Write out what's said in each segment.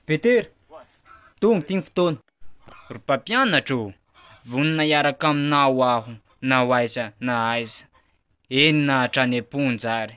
Petera, tonga ity ny fotoana. Ry mpampianatra ô, vonona hiaraka aminao aho na ho aiza na aiza, eny na hatrany am-ponja ary.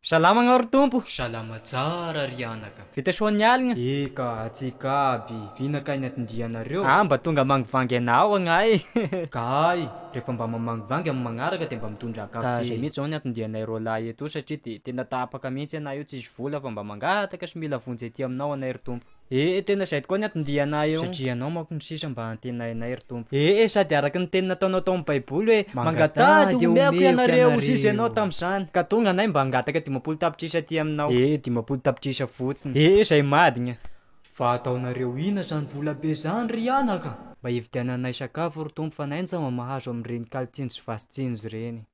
Salama anao ry Tompo! Salama tsara ry anaka! Vita soa ny aligna? Eka, antsika aby, vina kay ny atndrianareo? Aa mba tonga mangvangy anao agnahy ee! Ka ay, refa mba mamangvangy am magnaraka de mba mitondra café. Ka zay mihitsy zao ny atndrianay roalahy etoa satria de tena tapaka mihitsy anay io tsisy vola fa mba mangataka sy mila vonjy aty aminao anay ry Tompo. Ee e, tena izay tokoa ny hatondianay eo. Satria Ianao manko no sisa mba antenainay, ry Tompo. Ee e, sady araka ny teny nataonao tao amin'ny Baiboly hoe, Mangataha dia homeko ianareo, hoy Izy Ianao tamin'izany. Ka tonga anay mba hangataka dimampolo tapitrisa aty Aminao. Ee e, dimampolo tapitrisa fotsiny. Ee e, izay madigna. Fa ataonareo ina izany vola be izany, ry anaka? Mba hividiananay sakafo, ry Tompo, fa naintsama mahazo amin'ireny kalin-tsinjo sy vasin-tsinjo ireny.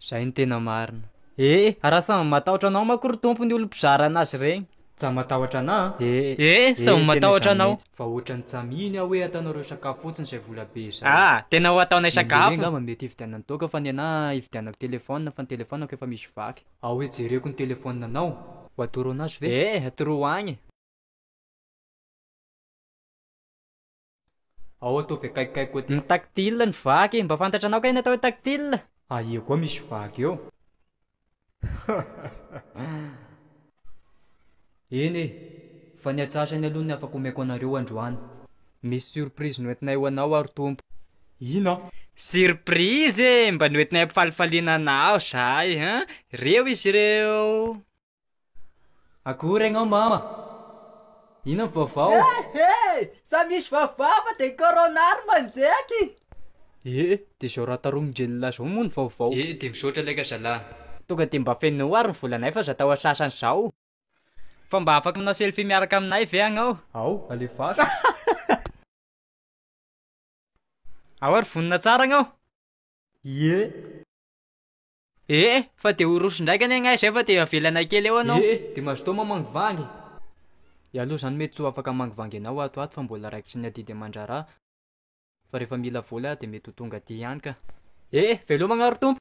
Zay ny tena marina. Ee, raha samy matahotra anao manko ry Tompo ny olom-pizara anazy ireny. Tsa matahotra anah a? Ee, ee, samy matahotra anao. Ee, tena izany mihitsy. Fa ohatran'ny tsa mino aho hoe ataonareo sakafo fotsiny izay vola be izay. Aa, tena ho ataonay sakafo. Ny lery angamba mety hividianany toaka fa ny anah hividianako telefaonina fa ny telefaonako efa misy vaky. Ao hoe jereko ny telefaonina anao. Ho atoro anazy ve? Ee, atoroho agny e. Ao ataovy akaikikay koa ty. Ny tactile ny vaky. Mba fantatra anao kay ny atao hoe tactile? Aia koa misy vaky eo? Eny e, fa ny atsasany aloha ny afaka omeko anareo androany. Misy surprise noentinay ho anao ary Tompo. Ina? Surprise e! Mba noentinay ampifalifaliana anao zahay an! Reo izy ireo. Akory ianao mama! Inona ny vaovao? Eh eh! Sa misy vaovao fa dia corona ary manjeky! Eh, dia izao raha taromin-drenilay izao moa ny vaovao? Eh, dia misaotra laika zalahy! Tonga dia mba fenoy ary ny volanay fa aza atao antsasany izao! Fa mba afaka manao selfie miaraka aminay ve ianao? Ao, alefaso! Ao ary vonona tsara ianao! Ie! Ee, fa dia ho roso ndraika anie ngah izay fa dia avelana kely eo anao. Ee, dia mazotoa mamangvangy. Iah aloha izany mety tsy ho afaka hamangvangy anao ato ho ato fa mbola raikitry ny adidy aman-draharaha. Fa rehefa mila vola aho dia mety ho tonga aty ihany ka. Ee, velomagna ry Tompo.